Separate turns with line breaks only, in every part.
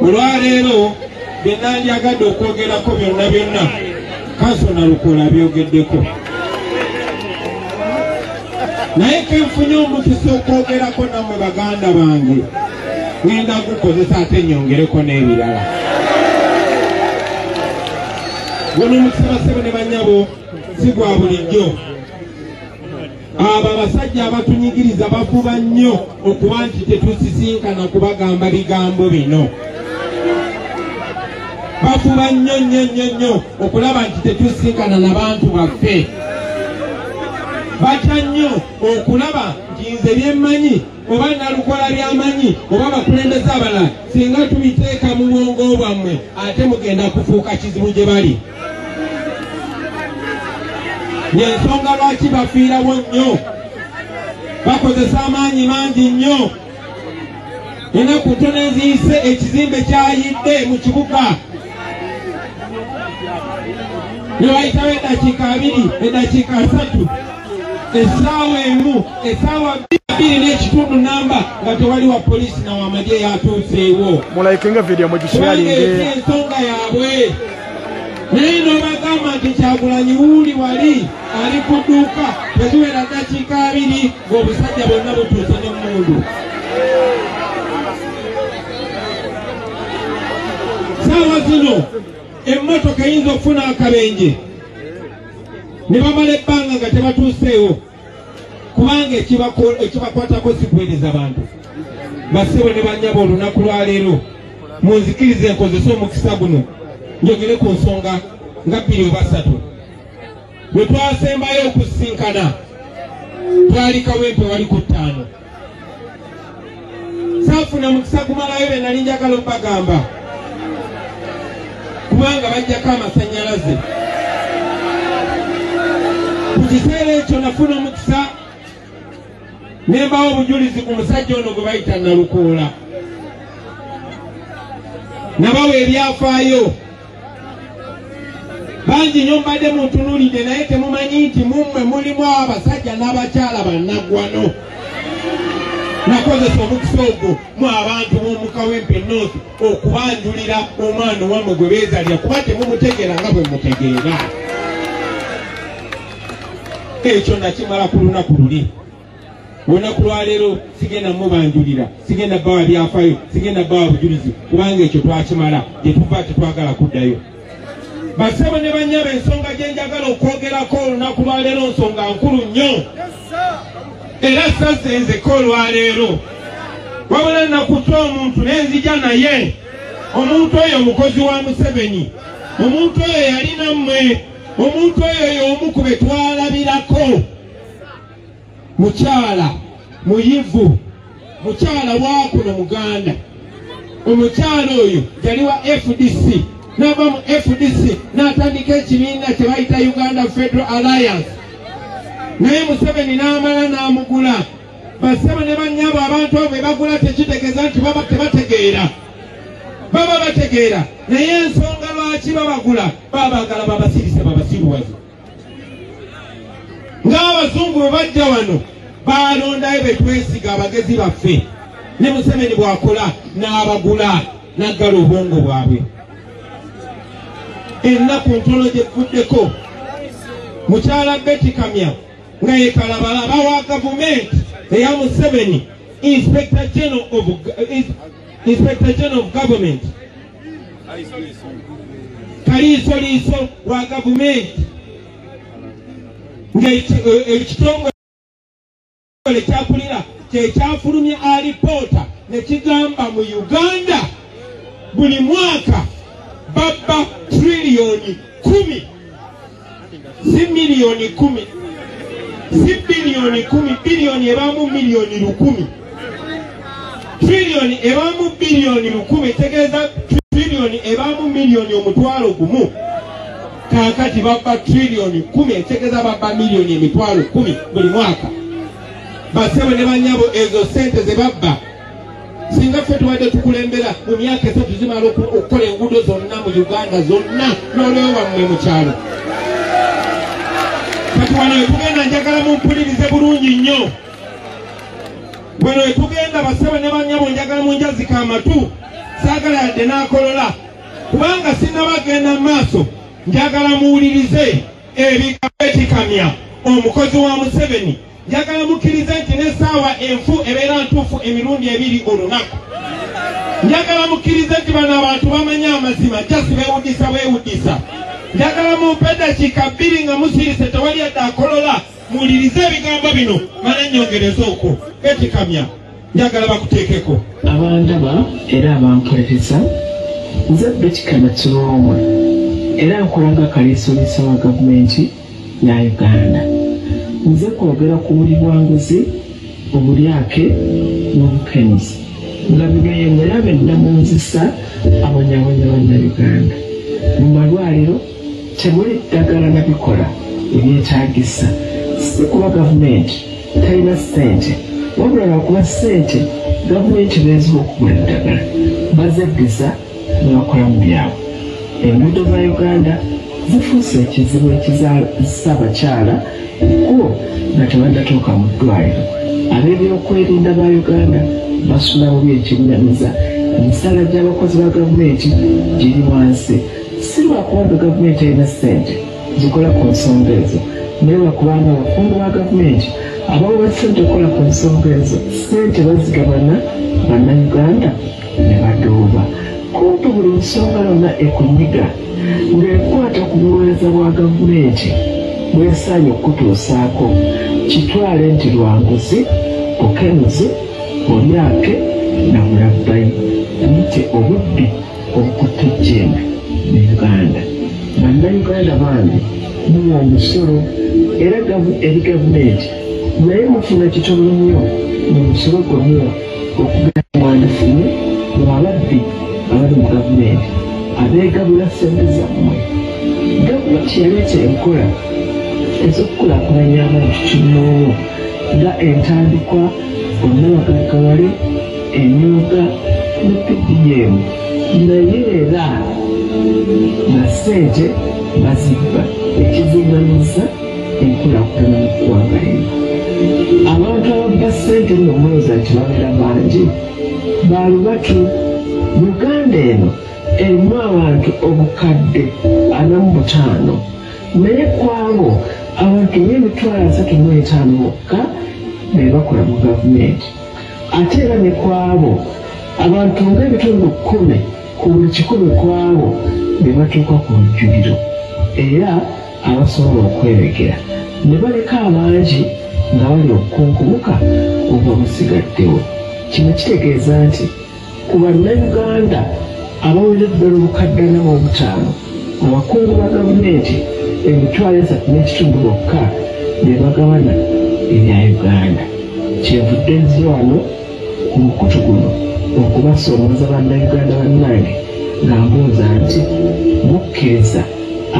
olwaleero byenandyagadde okwogerako byonna byonna kaso nalukola byogeddeko naye kenfunye omukisa okwogerako namwe baganda bange ngenda gukozesa ate nyongereko n'ebirala guno omukisa basebo ne banyabo si gwa bulijjo abo abasajja abatunyigiriza bafuba nnyo okuba nti tetusisinkana kubagamba bigambo bino bafuba nnyo nnyo nnyo nnyo okulaba nti tetusisinkana na bantu baffe batya nnyo okulaba nti nze byemmanyi oba nalukola byamanyi oba bakulembeza abala singa tubiteeka mu bwongo bwammwe ate mugenda kufuuka kizibu gye bali yensonga lwaki bafiirawo nnyo bakozesa amaanyi mangi nnyo enaku ntono eziyise ekizimbe kyayidde mu kibuga newayitawo edakiika abiri edakiika asatu essaawa emu essaawa bbiri n'ekitundu namba nga tewali wa poliisi na wamagye yatuuseewo mulayikenga vidiyo
mugishalinge ensonga yaabwe
naye nobagamba nti kyagulanyi wuuli wali ali ku dduuka teziwera ddakiika abiri ng'obusajja bonna butuuse n'emmundu saawa zino emmotoka eyinza okufuna akabenje ne bamala ebbanga nga tebatuuseewo kubanga ekibakwatako sikuweereza bantu basebo ne banyaba olunaku lwaleero munzikiriza enkozesa omukisa guno njogere ku nsonga nga bbiri obasatu bwe twasembayo okusinkana twali kawempe wali ku ttaano saafuna mukisa kumalayo be nali njagala okubagamba kubanga bajjako amasannyalaze ku kiseera ekyo nafuna omukisa ne mbawo obujulizi ku musajja ono gwe bayita nalukoola nabawa ebyafaayo bangi nyo mbadde muntunulidde naye temumanyi nti mummwe mulimu abasajja n'abakyala bannaggwano nakozesa omukisa ogwo mu abantu b'omukawempe north okubanjulira omwana owamwe gwe beezalira kuba temumutegeera nga bwe mutegeera ekyo nakimala ku lunaku luli olunaku lwaleero sigenda mubanjulira sigenda bawa byafayo sigenda bawa bujulizi kubanga ekyo twakimala gyetuva tetwagala kuddayo basebo ne banyaba ensonga gyenjagala okwogerako olunaku lwaleero nsonga nkulu nnyo era sasenzeko olwaleero wabula nakuta omuntu nenzija naye omuntu oyo mukozi wa museveni omuntu oyo yalina mmwe omuntu oyo yomu ku betwalabirako mukyala muyivu mukyala wakuno muganda omukyala oyo yali wa fdc nava mu fdc natandika ekibiina kyebayita uganda federal alliance naye museveni namala namugula basebo ne banyabo abantu abo bebagula tekitegeeza nti baba tebategeera baba bategeera naye ensonga lwaki babagula babagala babasirise babasiruwaze ng'abazungu bwe bajja wano baalondayo be twesiga abagezi baffe ne museveni bw'akola n'abagula n'aggala obwongo bwabwe ennaku ntono gye kuvuddeko mukyala beti kamya nga yekalabala bawa gavumenti eya museveni inspector general of, inspector general of government kaliisoliiso wa gavumenti ng'ekitongole eh, eh, kyakulira kyekyafulumya alipoota nekigamba mu uganda buli mwaka babba triliyoni kumi si miliyoni kumi si biliyoni kumi biliyoni ebaamu miliyoni lukumi triliyoni ebaamu biliyoni lukumi tegeeza triliyoni ebaamu miliyoni omutwalo gumu kakati babba triliyoni kumi etegeeza babba miliyoni emitwalo kumi buli mwaka basebo ne banyabo ezo sente zebabba singa ffe tubadde tukulembera mu myaka esatu zimala okukola enguudo zonna mu uganda zonna nolewo wammwe mu kyalo kati wano wetugenda njagala mumpulirize bulungi nnyo wano wetugenda basebo ne banyabo njagala munjazika amatu saagala yadde n'akolola kubanga sinabagenda mu maaso njagala muwulirize ebigambo ekikamya omukozi wa museveni Njagala mukkirize nti n'essaawa enfu ebeera ntuufu emirundi ebiri olunaku. Njagala mukkirize nti bano abantu bamanyi amazima jasi beewudisa bwewudisa. Njagala mumpe eddakiika bbiri nga musirise tewali yadde akolola muwulirize ebigambo bino mala nnyongereze okwo. Betikamya. njagala bakuteekeko abandaba
era abamperereza nze betikana kiroomwe era nkola nga kaleesoliisa wa gavumenti ya uganda nze kwogera ku buli bwanguzi obulyake n'obukenuzi nga bino yemulabe nnamunzisa abanyabanya bannayuganda mu malwaliro Temuli ddagala na bikola ebyetaagisa, si kuba gavumenti talina ssente, wabula lwakuba ssente gavumenti beeziwa okugula eddagala bazeddiza ne bakola mu byabwe. Enguudo za Uganda zifuuse ekizibu ekizaalisa abakyala ekkubo nga tebannatuuka mu ddwaliro. Ab'ebyokwerinda ba Uganda basula bubi ekinyamiza, emisaala gy'abakozi ba gavumenti giri wansi. Silwakuba mbu gavumenti erina ssente zikola ku nsonga ezo naye lwakubanga abakungu ba gavumenti abawa ssente okukola ku nsonga ezo ssente bazigabana bannayuganda ne baduuba kumpi buli nsonga yonna ekunyiga ng'ekwata ku buweereza bwa gavumenti bwesaanye okukutuusaako kitwale nti lwanguzi bukenuzi bulyake na bulabbayi buyite obubbi okutujjemba mu uganda bannayuganda bange muwa omusolo era eri gavumenti naye mufuna kitono nnyo mu musolo gwe muwa okugenda mwandifune mu ababbi abali mu gavumenti abeegabula ssente zammwe gavumenti yaleeta enkola ez'okukulakulanya abantu kinnoomu nga entandikwa onnabagagawale emyuka mu PDM naye era na ssente bazibba ekizigamisa enkulakulana mu ggwanga lino abantu ababba ssente nno mulooza nti babeera bangi balubatu uganda eno erimu abantu obukadde ana mu butaano naye kwabo abantu ng'emitwalo asatu mu etaano bokka be bakola mu gavumenti ate era ne kwabo abantu ng'ebitundu kkumi ku buli kikumi kwabo be batuuka ku lujjuliro era abasobola okwerekera ne baleka abangi nga bali okukunkubuka oba musigaddewo kino kitegeeza nti Ku Bannayuganda abawera eddala obukadde ana mu obutaano, abakungu ba gavumenti emitwalo esatu n'ekitundu bokka be bagabana ebya Uganda. Kyenvudde nzze wano ku mukutu guno okubasoomooza Bannayuganda bannange nga mbuuza nti mukkiriza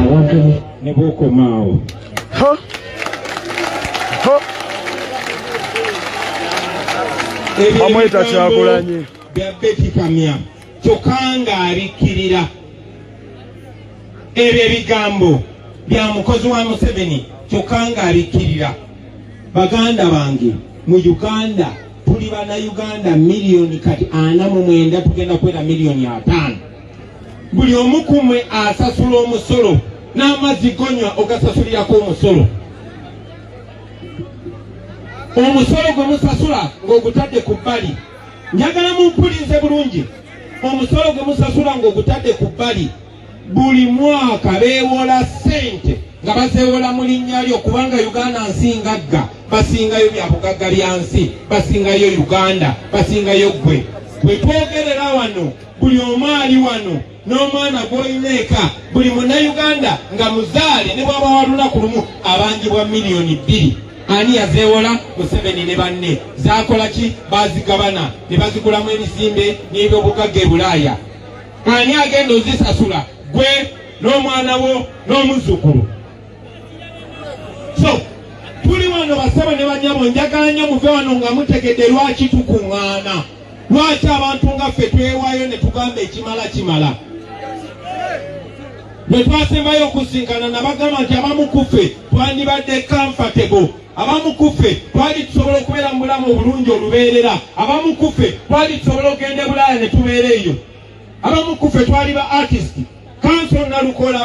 abantu ne
bw'okomaawo Huh?
Huh? bamweta kyagulanyi bya beti
kamya kyokka ng'abikkirira ebyo ebigambo bya mukozi wa museveni kyokka ng'abikkirira baganda bange mu uganda tuli bana uganda miliyoni kati ana mu mwenda tugenda kwera miliyoni ataano buli omu ku mmwe asasula omusolo n'amazzi gonywa ogasasulirako omusolo omusolo gwe musasula ng'ogutadde ku bbali njagala mumpulinze bulungi omusolo gwe musasula ng'ogutadde ku bbali buli mwaka beewola ssente nga bazeewola mu linnya lyo kubanga uganda nsingagga basingayo bya bugagga bya nsi basingayo uganda basingayo ggwe bwe twogerera wano buli omu ali wano n'omwana gw'olina eka buli munnayuganda nga muzaale ne bwaba wa lunaku lumu abanjibwa miliyoni bbiri ani yazeewola museveni ne banne zaakola ki baazigabana ne bazigulamu ebisimbe n'ebyobugagga e bulaaya ani agenda ozisasula gwe n'omwana wo n'omuzzukulu so tuli wano basaba ne banyabo njagala nnyo muve wano nga mutegedde lwaki tukuŋŋaana lwaki abantu nga ffe twewayo ne tugamba ekimala kimala bwe twasembayo okusinkana nabagamba nti abamu kuffe twandibadde comfortable abamu kuffe twali tusobola okubeera mu bulamu obulungi olubeerera abamu kuffe twali tusobola okugenda ebulaaya ne tubeera eyo abamu kuffe twali ba artist kanso nalukola